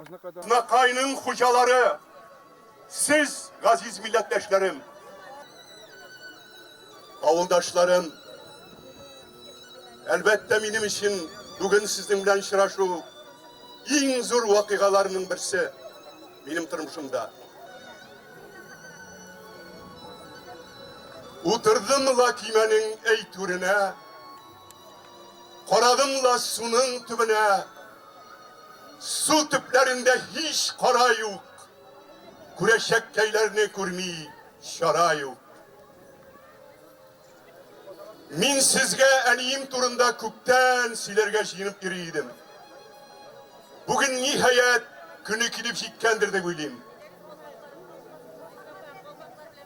Азнакайның хуҗалары, сез, газиз милләттәшләрем, авылдашларым, әлбәттә, минем өчен бүген сезнең белән очрашу иң зур вакыйгаларның берсе минем тормышымда. Утырдым ла көймәнең әйтүренә, карадым ла суның төбенә, Су төпләрендә һич кара юк. Күрәчәккәйләрне күрми чара юк. Мин сезгә әнием турында күптән сөйләргә җыенып йөри идем. Бүген, ниһаять, көне килеп җиткәндер дип уйлыйм.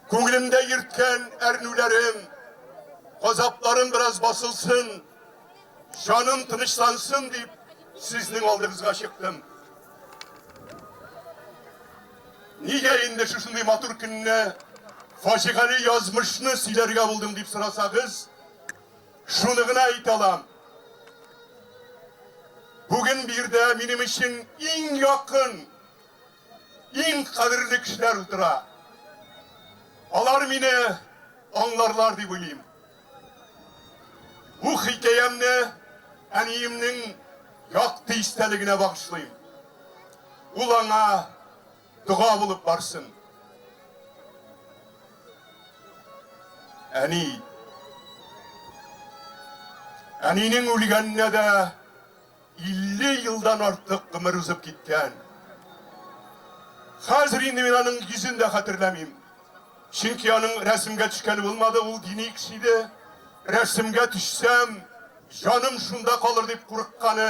Күңелемдә йөрткән әрнүләрем, газапларым бераз басылсын, Җаным тынычлансын дип, сезнең алдыгызга чыктым. Нигә инде шушындый матур көнне фаҗигале язмышны сөйләргә булдым дип сорасагыз, шуны гына әйтә алам. Бүген бирдә минем өчен иң якын, иң кадерле кешеләр утыра. Алар мине аңларлар дип уйлыйм. Бу хикәямне әниемнең якты истәлегенә багышлыйм. Ул аңа дога булып барсын. Әни. Әнинең үлгәненә дә 50 елдан артык гомер узып киткән. Хәзер инде мин аның йөзен дә хәтерләмим. Чөнки аның рәсемгә төшкәне булмады, ул дини кеше иде. Рәсемгә төшсәм, җаным шунда калыр дип курыкканы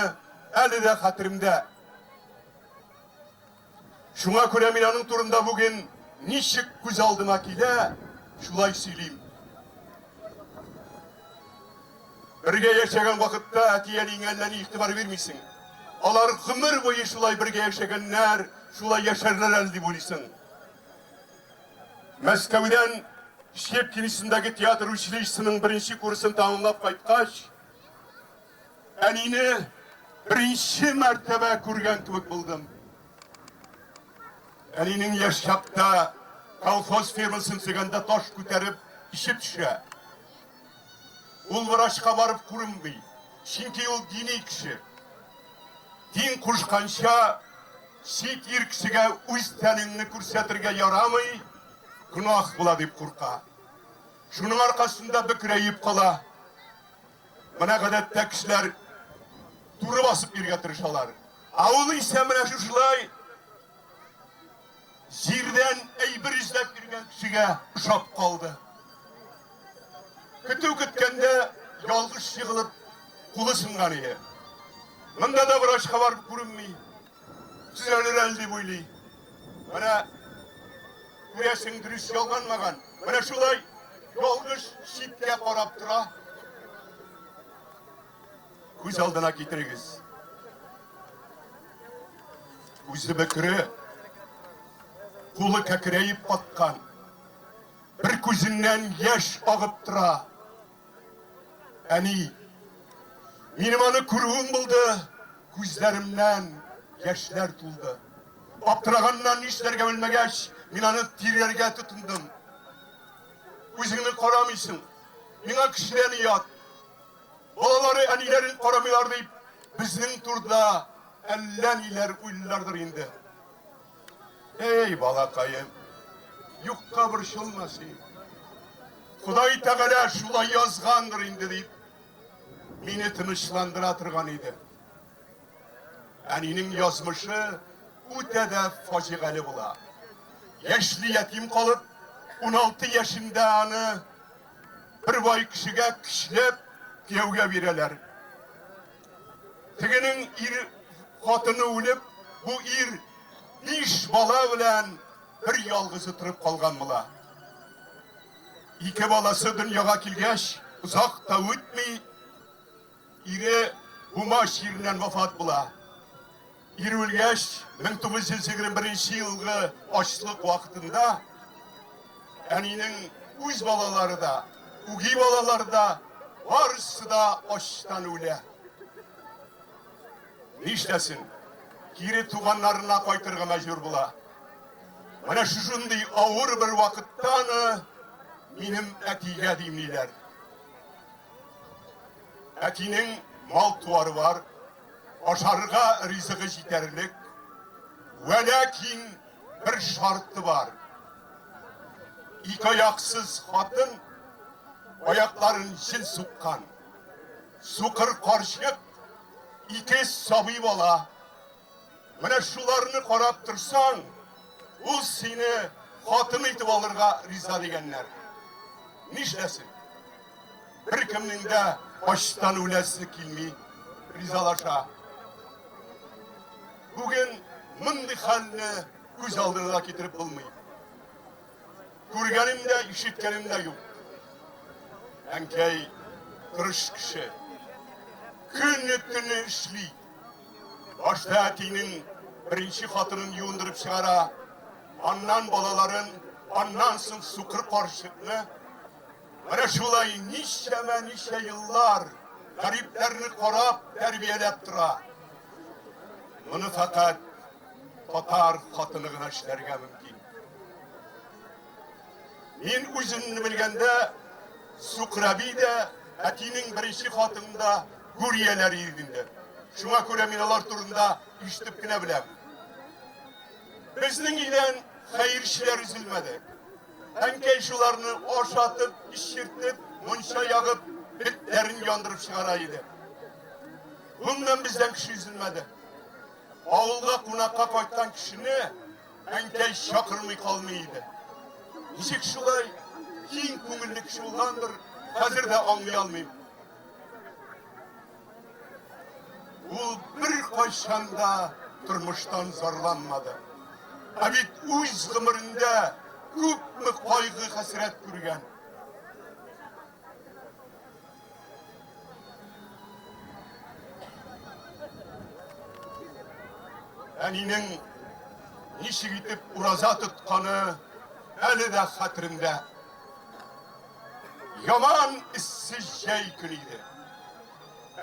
әле дә хәтеремдә. Шуңа күрә мин аның турында бүген ничек күз алдыма килә, шулай сөйлим. Бергә яшәгән вакытта әти-әниеңә әллә ни игътибар бирмисең. Алар гомер буе шулай бергә яшәгәннәр, шулай яшәрләр әле дип уйлыйсың. Мәскәүдән Щепкин исемендәге театр училищесының беренче курсын тәмамлап кайткач, Әнине беренче мәртәбә күргән кебек булдым. Әнинең яшь чакта колхоз фермасын сөйгәндә таш күтәреп ише төшә. Ул врачка барып күренми, чөнки ул дини кеше. Дин кушканча, чит ир кешегә үз тәнеңне күрсәтергә ярамый, гөнаһ була дип курка. Шуның аркасында бөкрәеп кала. Менә гадәттә кешеләр туры басып йөрергә тырышалар. Ә ул исә менә шушылай җирдән әйбер эзләп йөргән кешегә ошап калды. Көтү көткәндә ялгыш егылып кулы сынган иде. Монда да врачка барып күренми. Төзәлер әле дип уйлый. Менә күрәсең, дөрес ялганмаган. Менә шулай ялгыш читкә карап тора. Күз алдына китерегез. Үзе бөкре, кулы кәкерәеп каткан, бер күзеннән яшь агып тора. Әни, минем аны күрүем булды, күзләремнән яшьләр тулды. Аптыраганнан, нишләргә белмәгәч, мин аны тиргәргә тотындым. Үзеңне карамыйсың, миңа кешедән оят. Балалары әниләрен карамыйлар дип, безнең турыда әллә ниләр уйлыйлардыр инде. Әй, балакаем, юкка борчылма син. Ходай Тәгалә шулай язгандыр инде, дип, мине тынычландыра торган иде. Әнинең язмышы үтә дә фаҗигале була. Яшьли ятим калып, 16 яшендә аны бер бай кешегә көчләп кияүгә бирәләр. Тегенең ир хатыны үлеп, бу ир биш бала белән бер ялгызы торып калган була. Ике баласы дөньяга килгәч, озак та үтми, ире Бумаш җиреннән вафат була. Ир үлгәч, 1921 елгы ачлык вакытында әнинең үз балалары да, үги балалары да барысы да ачтан үлә. Нишләсен? Кире туганнарына кайтырга мәҗбүр була. Менә шушындый авыр бер вакыттан минем әтигә димиләр. Әтинең мал-туары бар, Ашарга ризыгы җитәрлек, вә ләкин бер шарты бар. Ике аяксыз хатын аякларын җен суккан. Сукыр карчык ике сабый бала. Менә шуларны карап торсаң, ул сине хатын итеп алырга риза дигәннәр. Нишләсен? Беркемнең дә ачтан үләсе килми, ризалаша. Бүген мондый хәлне күз алдына да китереп булмый. Күргәнем дә, ишеткәнем дә юк. Әнкәй тырыш кеше. Көнне төнне эшли. Башта әтинең беренче хатынын юындырып чыгара, аннан балаларын, аннан соң сукыр карчыкны Менә шулай ничәмә-ничә еллар гарипләрне карап, тәрбияләп тора. Моны фәкать татар хатыны гына эшләргә мөмкин. Мин үземне белгәндә, Сукраби дә, әтинең беренче хатынында гүрияләр иргендә. Шуңа күрә мин алар турында ишетеп кенә беләм. Безнең илдән хәерчеләр өзелмәде. Әнкәй шуларны ашатып, эчертеп, мунча ягып, битләрен яндырып чыгара иде. Буннан бездән кеше изелмәде. Авылга кунакка кайткан кешене әнкәй чакырмый калмый иде. Ничек шулай киң күңелле кеше булгандыр, хәзер дә аңлый алмыйм. Ул беркайчан да тормыштан зарланмады. Ә бит үз гомерендә күпме кайгы-хәсрәт күргән. Әнинең ничек итеп ураза тотканы әле дә хәтерендә. Яман эссе җәй көне иде.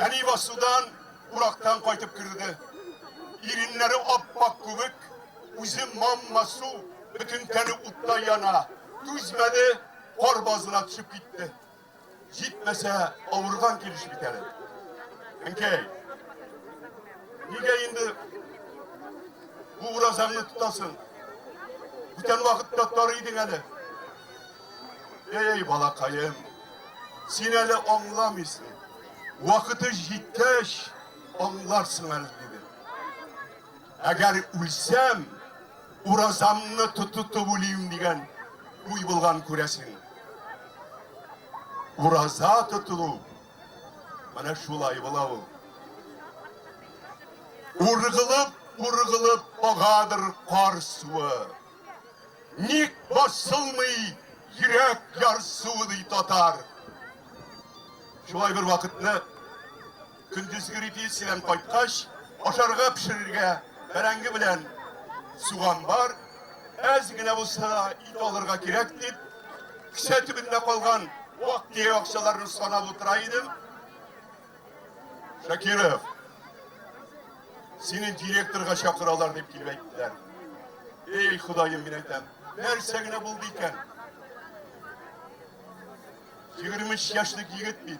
Әни басудан урактан кайтып керде. Иреннәре аппак күбек, үзе мамма су, бөтен тәне утта яна. Түзмәде, кар базына төшеп китте. Җитмәсә, авырган килеш бит әле. Әнкәй, нигә инде бу уразаңны тотасың? Бүтән вакытта тар идең әле. Эй, балакаем, син әле аңламыйсың. Вакыты җиткәч, аңларсың әле, диде. Әгәр үлсәм, уразамны тотытып үлим дигән уй булган күрәсең. Ураза тотылу менә шулай була ул. Ургылып, ургылып агадыр кар суы. Ник басылмый йөрәк ярсуы ди татар. Шулай бер вакытны Көндезге репетициядән кайткач, ашарга пешерергә бәрәңге белән суган бар. Әз генә булса да ит алырга кирәк дип, кесә төбендә калган вак тия акчаларны санап утыра идем. Шакиров, сине директорга чакыралар дип килеп әйттеләр. Эй, Ходаем, мин әйтәм, нәрсә генә булды икән? 23 яшьлек егет бит.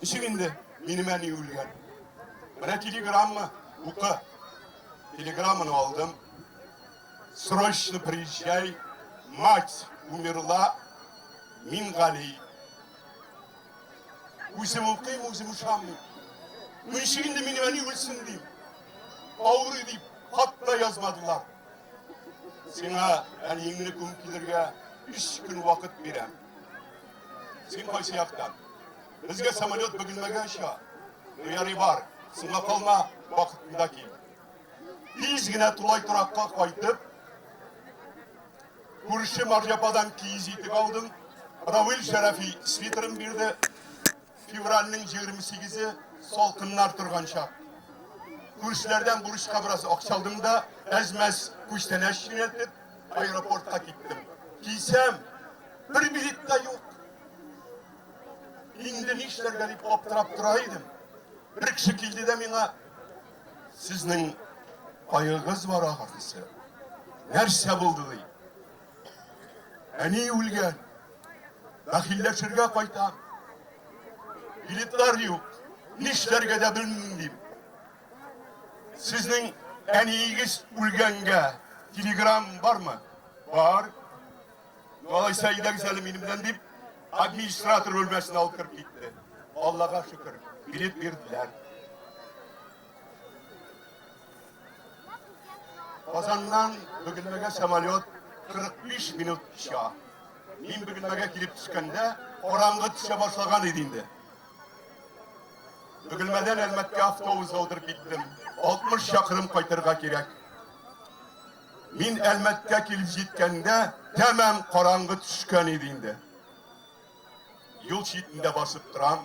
Ничек инде минем әни үлгән? Менә телеграмма, укы. Телеграмманы алдым. Срочно приезжай, мать умерла, мин гали. Үзем укыйм, үзем ышанмыйм. Ну ничек инде минем әни үлсен дим. Авырый дип, хат та язмадылар. Сиңа әниеңне күм килергә өч көн вакыт бирәм. Син кайсы яктан? Безгә самолет бөгелмәгә оча. Ярый бар, соңга калма, вакытында кил. Тиз генә тулай торакка кайтып, күрше Марҗападан киез итек алдым. Равил Шәрәфи свитерын бирде. Февральнең җигерме сигезе салкыннар торган чак. Күршеләрдән бурычка бераз акча алдым да, әз-мәз күчтәнәч юнәлтеп, аэропортка киттем. Килсәм, бер билет та юк. Инде нишләргә дип аптырап тора идем. Бер кеше килде дә миңа, сезнең аегыз бар ахрысы. Нәрсә булды ди? Әни үлгән. Бәхилләшергә кайтам. Билетлар юк. Нишләргә дә белмим дим. Сезнең әниегез үлгәнгә телеграм бармы? Бар. Алайса әйдәгез әле минем белән дип, администратор бүлмәсенә алып кереп китте. Аллага шөкер, билет бирделәр. Казаннан Бөгелмәгә самолет 45 минут төшә. Мин Бөгелмәгә килеп төшкәндә, караңгы төшә башлаган иде инде. Бөгелмәдән Әлмәткә автобус алдырып киттем. 60 чакрым кайтырга кирәк. Мин Әлмәткә килеп җиткәндә, тәмам караңгы төшкән иде инде. Юл читендә басып торам.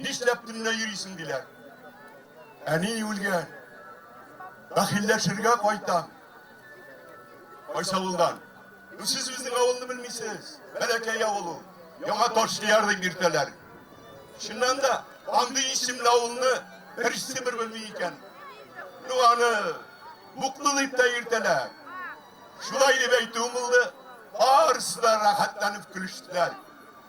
Нишләп төнлә йөрисең, диләр. Әни үлгән. Бәхилләшергә кайтам. Кайсы авылдан? Ну, сез безнең авылны белмисез. Бәләкәй авыл ул. Яңа Ташлияр дип йөртәләр. Чыннан да, андый исемле авылны берсе бер белми икән. Ну, аны Буклы дип тә йөртәләр. Шулай дип әйтүем булды. Барысы да рәхәтләнеп көлештеләр.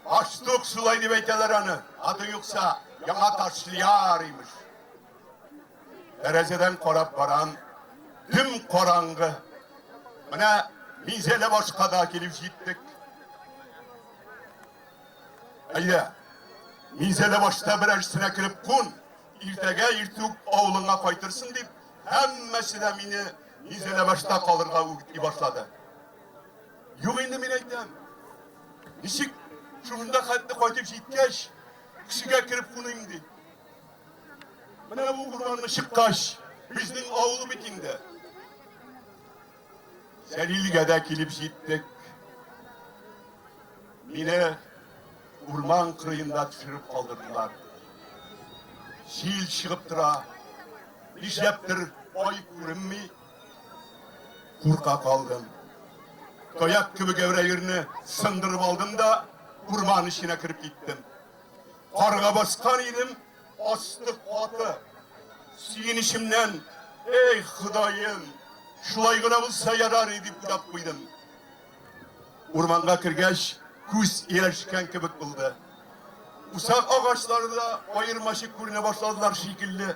Аштук шулай дип әйтәләр аны, аты юкса, яңа Ташлияр, имеш. Тәрәзәдән карап барам, дөм караңгы. Менә Минзәлә башка да килеп җиттек. Әйдә, Минзәлә башта берәрсенә кереп кун, иртәгә иртүк авылыңа кайтырсың дип, һәммәсе дә мине Минзәлә башта калырга үгетли башлады. Юк инде мин әйтәм. Ничек шунда хәтле кайтып җиткәч, кешегә кереп куныйм ди. Менә бу урманны чыккач, безнең авыл бит инде. Сәлилгә дә килеп җиттек. Мине урман кырыенда төшереп калдырдылар. Җил чыгып тора. Нишләптер ай күренми. Курка калдым. Таяк кебек әүрәерне сындырып алдым да, урман эченә кереп киттем. Карга баскан идем, асты каты. Сөенечемнән, эй, Ходаем, шулай гына булса ярар иде дип уйлап куйдым. Урманга кергәч, күз ияләшкән кебек булды. Усак агачлары да аермачык күренә башладылар шикелле.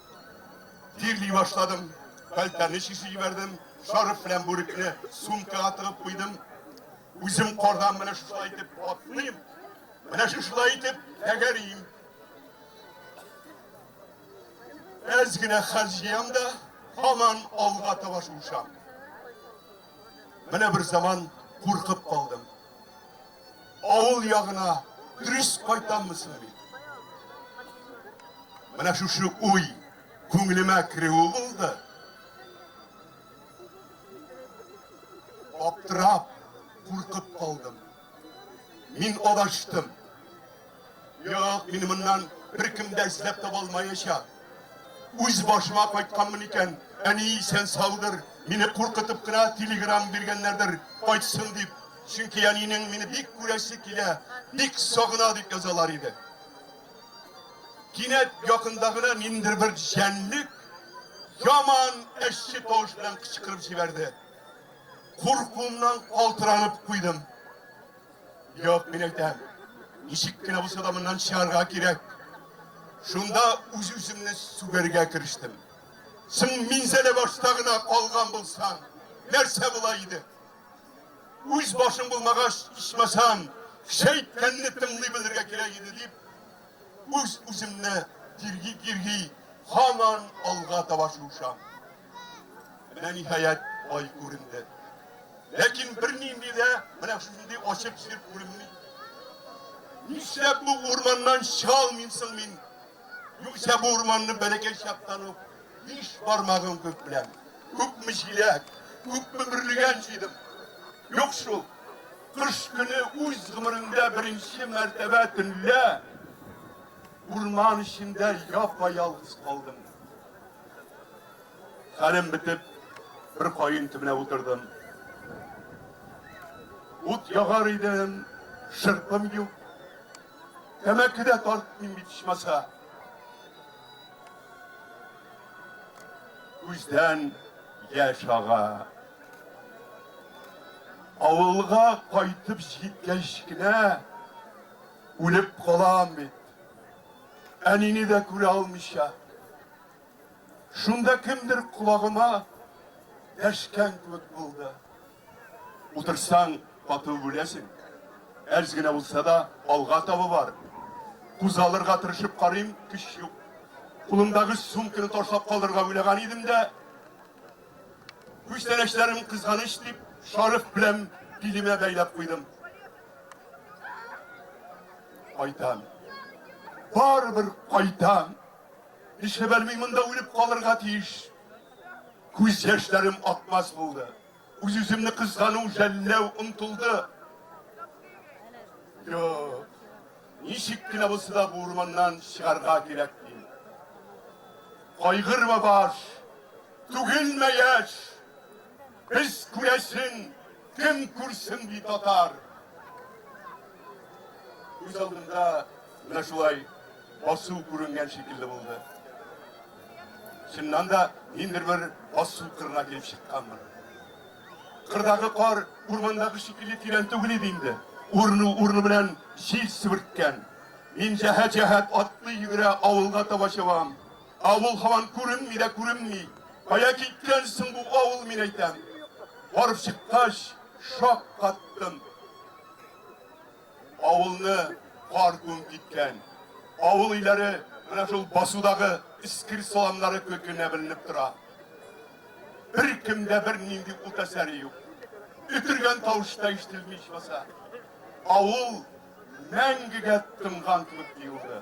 Тирли башладым. Кальтәне чиши җибәрдем. Шарф белән бүрекне сумкага тыгып куйдым. Үзем кордам менә шушылай итеп атлыйм. Менә шушылай итеп тәгәрим. Әз генә хәл җыям да, һаман алга таба шуышам. Менә бер заман куркып калдым. Авыл ягына дөрес кайтаммы соң мин? Менә шушы уй күңелемә керүе булды. Аптырап, куркып калдым. Мин адаштым. Юк, мин моннан беркем дә эзләп таба алмаячак. Үз башыма кайтканмын икән, әни исән саудыр, мине куркытып кына телеграм биргәннәрдер, кайтсын дип. Чөнки әнинең мине бик күрәсе килә, бик сагына дип язалар иде. Кинәт якында гына ниндер бер җәнлек яман әче тавыш белән кычкырып җибәрде. Куркуымнан калтыранып куйдым. Юк, мин әйтәм, ничек кенә булса да моннан чыгарга кирәк. Шунда үз-үземне сүгәргә керештем. Соң минзәлә башта гына калган булсам, нәрсә була иде? Үз башың булмагач, ичмасам, кеше әйткәнне тыңлый белергә кирәк иде дип, үз-үземне тирги-кирги һаман алга таба шуышам. Менә ниһаять ай күренде. Ләкин бернинди дә менә шундый ачык җир күренми. Нишләп бу урманнан чыга алмыйм соң мин? Юкса бу урманны бәләкәй чактан ук биш бармагым күк белән, күпме җиләк, күпме бөрлегән җыйдым. Юк шул. Кыш көне үз гомерендә беренче мәртәбә төнлә урман эчендә япа-ялгыз калдым. Хәлем бетеп, бер каен төбенә утырдым. Ут ягар идем, шырпым юк. Тәмәке дә тартмыйм бит ичмаса. Күздән яшь ага. Авылга кайтып җиткәч кенә үлеп калам бит. Әнине дә күрә алмыйча. Шунда кемдер колагыма дәшкән кебек булды. Утырсаң, каты үләсең. Әз генә булса да, алга таба бар. Кузгалырга тырышып карыйм, көч юк. Кулымдагы сумканы ташлап калырга уйлаган идем дә, Күчтәнәчләрем кызганыч дип, шарык белән билемә бәйләп куйдым. Кайтам. Барыбер кайтам. Нишләп әлми монда үлеп калырга тиеш? Күз яшьләрем акмас булды. Үз-үземне кызгану, жәлләү омтылды. Юк. Ничек кенә булса да бу урманнан чыгарга кирәк. Кайгырма баш. Түгелме яшь? Без күрәсен, кем күрсен ди татар? Күз алдымда менә шулай басу күренгән шикелле булды. Чыннан да ниндер бер басу кырына килеп чыкканмын. Кырдагы кар урмандагы шикелле тирән түгел иде инде. Урыну-урыну белән җил себерткән. Мин җәһәт-җәһәт атлый-йөгерә авылга таба чабам. Авыл һаман күренми дә күренми. Кая киткән соң бу авыл, мин әйтәм? Барып чыккач, шаккаттым. Авылны кар күмеп киткән. Авыл өйләре менә шул басудагы эскер саламнары кебек кенә беленеп тора. Беркемдә бернинди ут әсәре юк. Өтергән тавыш та ишетелми ичмаса. Авыл мәңгегә тынган кебек тоелды.